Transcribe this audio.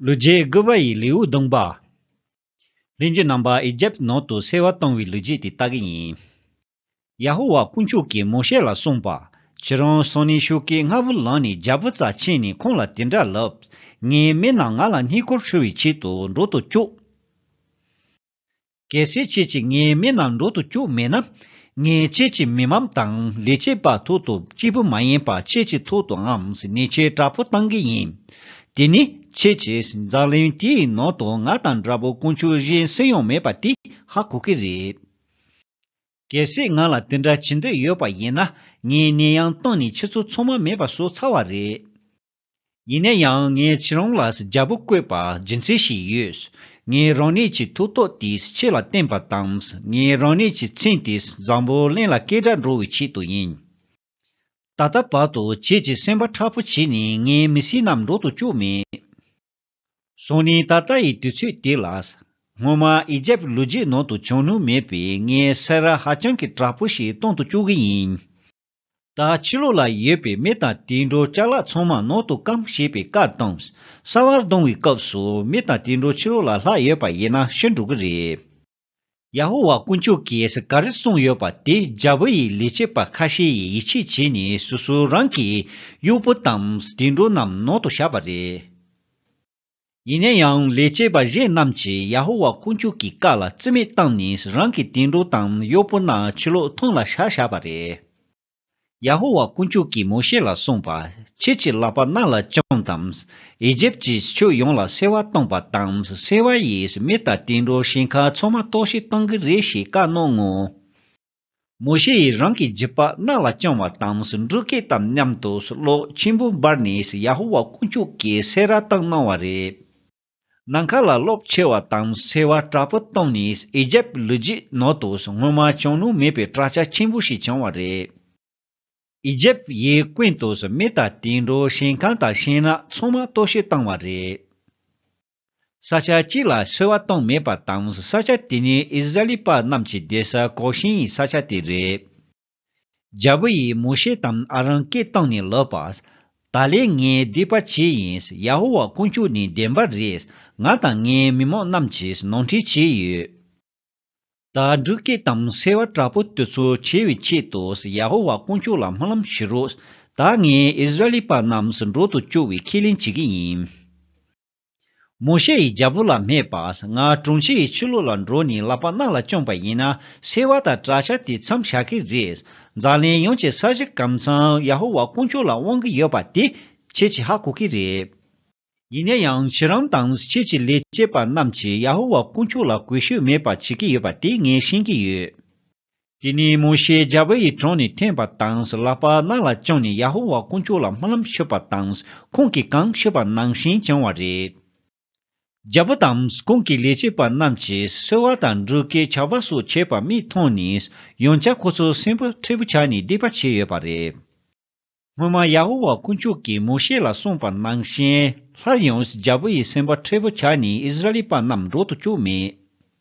ལུས་རྗེས་བསྒུལ་བ་ཡི་ལེའུ་བརྡུངས་པ། ལྷན་སྐྱེས་རྣམ་པ་ཨི་ཇེབ་ནང་དུ་གསལ་བ་བཏང་བའི་ལུས་རྗེས་དེ་ལྟ་གི་ཡིན། ཡ་ཧོ་ཝཱ་དཀོན་མཆོག་གིས་མོ་ཤེ་ལ་གསུངས་པ། ཁྱེད་རང་སོང་ནས་ཤུགས་ཀྱིས་རྔ་བུ་བླངས་ནས་རྒྱལ་པོ་རྩ་ཆེན་ནས་ཁོང་ལ་དེ་འདྲ་ལབ། ངའི་མི་རྣམས་ང་ལ་སྙིང་ཁོར་འཕྲུལ་བའི་ཆེད་དུ་འགྲོ་དུ་བཅུག། གལ་སྲིད་ཁྱེད་ཀྱིས་ངའི་མིག་ནང་འགྲོ་དུ་བཅུག་མེད་ན། ངས་ཁྱེད་ཀྱི་མི་འམ་དང་ལས་བྱེད་པ་ཐུག་ཏུ་སྐྱིད་པོ་མ་ཡིན་པར་ཁྱེད་ཀྱི་ཐུག་ཏུ་འམ་ནི་ཁྱེད་དྲག་པོ་བཏང་གི་ཡིན། དེ་ནི་ཁྱེད་ཀྱིས་འཛག་གླེང་དེའི་ནང་དུ་ང་དང་དྲག་པོ་དཀོན་མཆོག་གཞན་སུ་ཡང་མེད་པ་དེ་ཧ་གོ་གི་རེད། གལ་སྲིད་ང་ལ་དེ་འདྲ་བྱེད་འདོད་ཡོད་པ་ཡིན་ན་ངའི་ནད་ཡང་སྟོངས་ནས་ཁྱེད་ཚོ་ཚང་མ་མེད་པ་བཟོ་ཚར་བ་རེད། ཡིན་ན་ཡང་ངས་ཁྱེད་རང་ལ་རྒྱལ་པོ་བསྐོས་པར་རྒྱུ་མཚན་ཞིག་ཡོད། ངས་རང་ཉིད་ཀྱི་ཐུགས་རྟོག་དེས་ཁྱེད་ལ་བསྟན་པ་དང་ངས་རང་ཉིད་ཀྱི་མཚན་དེས་བཟང་པོ་གླིང་ལ་སྐད་སྒྲ་འགྲོ་བའི་ཆེད་དུ་ཡིན། ད་ལྟ་བར་དུ་ཁྱེད་ཀྱི་སེམས་པ་ཁྲ་བོ་བྱས་ནས་ངའི་མི་སེར་རྣམས་འགྲོ་དུ་བཅུག་མེད། སོང་ནས་ད་ལྟ་ཡི་དུས་ཚོད་དེ་ལ། སྔོན་མ་ཨི་རྒྱལ་པོའི་ལུས་རྒྱུད་ནང་དུ་བྱུང་ནུས་མེད་པའི་ངའི་སེར་ར་ཧ་ཅང་གི་དྲག་པོ་ཞིག་གཏོང་དུ་བཅུག་གི་ཡིན། ད་ཕྱི་ལོགས་ལ་ཡོད་པའི་མི་དང་དུད་འགྲོ་ལྕགས་ལག་ཚང་མ་ནང་དུ་སྐམ་ཞེས་པའི་བཀའ་བཏང། ས་བར་ལྡང་བའི་སྐབས་སུ་མི་དང་དུད་འགྲོ་ཕྱི་རོལ་ལ་ལྷག་ཡོད་པ་ཡིན་ན་ཤི་འགྲོ་གི་རེད། ཡ་ཧོ་ཝཱ་དཀོན་མཆོག་གིས་ག་རེ་གསུངས་ཡོད་པ་དེ་རྒྱལ་པོ་ཡི་ལས་བྱེད་པ་ཁ་ཤས་ཡིས་ཡིད་ཆེས་བྱས་ནས་སོ་སོའི་རང་གི་གཡོག་པོ་དང་དུད་འགྲོ་རྣམས་ནང་དུ་བཞག་པ་རེད། ཡིན་ན་ཡང་ལས་བྱེད་པ་གཞན་རྣམས་ཀྱིས་ཡ་ཧོ་ཝཱ་དཀོན་མཆོག་གི་བཀའ་ལ་བརྩི་མེད་བཏང་ནས་རང་གི་དུད་འགྲོ་དང་གཡོག་པོ་རྣམས་ཕྱི་ལོགས་མཐོང་ལ་བཞག་བཞག་པ་རེད། ཡ་ཧོ་ཝཱ་དཀོན་མཆོག་གིས་མོ་ཤེ་ལ་གསུངས་པ། ཁྱེད་ཀྱི་ལག་པ་རྣ་ལ་བཅངས་དང། ཨི་ཇིབ་ཀྱི་ཕྱོགས་ཡོངས་ལ་སེར་བ་བཏང་བ་དང་སེར་བ་ཡིས་མི་དང་དུད་འགྲོ་ཞིང་ཁ་ཚོགས་མ་གཏོགས་ཤིག་བཏང་གི་རེད་ཞེས་བཀའ་གནང་ངོ། མོ་ཤེ་ཡིས་རང་གི་རྗེས་དཔག་རྣ་ལ་བཅང་བ་དང་འགྲོ་སྐད་དམ་མཉམ་དུ་གློག་ཆེན་པོ་འབར་ནས་ཡ་ཧོ་ཝཱ་དཀོན་མཆོག་གིས་སེ་རཱ་བཏང་གནང་བ་རེད། ནམ་མཁའ་ལ་གློག་ཆེ་བ་དང་སེར་བ་དྲག་པོ་བཏང་ནས་ཨེ་ཇེབ་ལུས་རྗེས་ནོར་དུ་སྔོན་མ་བྱང་ནུབ་མེད་པའི་བྲག་ཆ་ཆེན་པོ་ཞིག་བྱུང་བ་རེད། ཨེ་ཇེབ་ཡིས་ཀུན་ཏུ་མེ་དང་དུད་འགྲོ་ཞིང་ཁམས་དང་ཤིང་ནགས་ཚང་མ་གཏོར་བཤིག་བཏང་བ་རེད། ས་ཆ་གཅིག་ལ་སོལ་བ་གཏོང་མེད་པ་དང་ས་ཆ་དེ་ནི་ཨིས་ར་ལི་པ་རྣམས་ཀྱི་བསྡད་ས་གོ་ཤེས་ཡིན་ས་ཆ་དེ་རེད། རྒྱལ་པོ་ཡིས་མོ་ཤེ་དང་ཨ་རོན་སྐད་བཏང་ནས་ལབ་པ། ད་ལེ་ངས་སྡིག་པ་བྱས་ཡིན་ཡ་ཧོ་ཝཱ་དཀོན་མཆོག་ནི་བདེན་པ་རེད་ང་དང་ངའི་མི་མང་རྣམས་ཀྱིས་ནོར་འཁྲིད་བྱས་ཡོད། ད་འབྲུག་སྐད་དང་སེར་བ་དྲག་པོ་དེ་ཚོ་བྱེད་པའི་ཆེད་དུ་ཡ་ཧོ་ཝཱ་དཀོན་མཆོག་ལ་སྨོན་ལམ་ཞུ་རོགས། ད་ངས་ཨིས་ར་ལི་པ་རྣམས་འགྲོ་དུ་བཅུག་བའི་ཁས་ལེན་བྱེད་ཀྱི་ཡིན། མོ་ཤེ་ཡིས་རྒྱལ་པོ་ལ་སྨྲས་པ། ང་དྲུང་ཆེ་ཡི་ཆོས་ལུགས་ལ་འགྲོ་ནས་ལག་པ་རྣག་ལ་བཅོམ་པ་ཡིན་ན་སེར་བ་དང་བྲག་ཆ་དེ་མཚམས་བཞག་གི་རེད། འཛམ་གླིང་ཡོངས་ཀྱི་ས་གཞི་སྐམ་ཚང་ཡ་ཧོ་ཝཱ་དཀོན་མཆོག་ལ་དབང་གི་ཡོད་པ་དེ་ཁྱེད་ཀྱིས་ཧ་གོ་གི་རེད། ཡིན་ན་ཡང་ཁྱེད་རང་དང་ཁྱེད་ཀྱི་ལས་བྱེད་པ་རྣམས་ཀྱིས་ཡ་ཧོ་ཝཱ་དཀོན་མཆོག་ལ་གུས་ཞུ་མེད་པ་བྱེད་ཀྱི་ཡོད་པ་དེ་ངས་ཤེས་ཀྱི་ཡོད། དེ་ནས་མོ་ཤེས་རྒྱལ་པོ་ཡི་དྲུང་ནས་ཐོན་པ་དང་ལྷག་པར་རྣ་ལ་བཅངས་ནས་ཡ་ཧོ་ཝཱ་དཀོན་མཆོག་ལ་སྨོན་ལམ་ཞུས་པ་དང་ཁོང་གིས་གང་ཞུས་པ་ནང་བཞིན་བྱུང་བ་རེད། རྒྱལ་པོ་དང་ཁོང་གི་ལས་བྱེད་པ་རྣམས་ཀྱིས་གསོལ་བ་དང་འབྲུ་སྐད་བྱ་བ་སོགས་བྱས་པ་མིས་མཐོང་ནས་ཡང་བསྐྱར་ཁོ་ཚོ་སེམས་པ་མཁྲེགས་པོ་ཆགས་ནས་བསྡད་པ་བྱས་ཡོད་པ་རེད། སྔོན་མ་ཡ་ཧོ་ཝཱ་དཀོན་མཆོག་གིས་མོ་ཤེ་ལ་གསུངས་པ་ནང་བཞིན་སླར་ཡང་རྒྱལ་པོ་ཡི་སེམས་པ་མཁྲེགས་པོ་ཆགས་ནས་ཨིསི་རཱ་ཨེལ་པ་རྣམས་འགྲོ་དུ་བཅུག་མེད།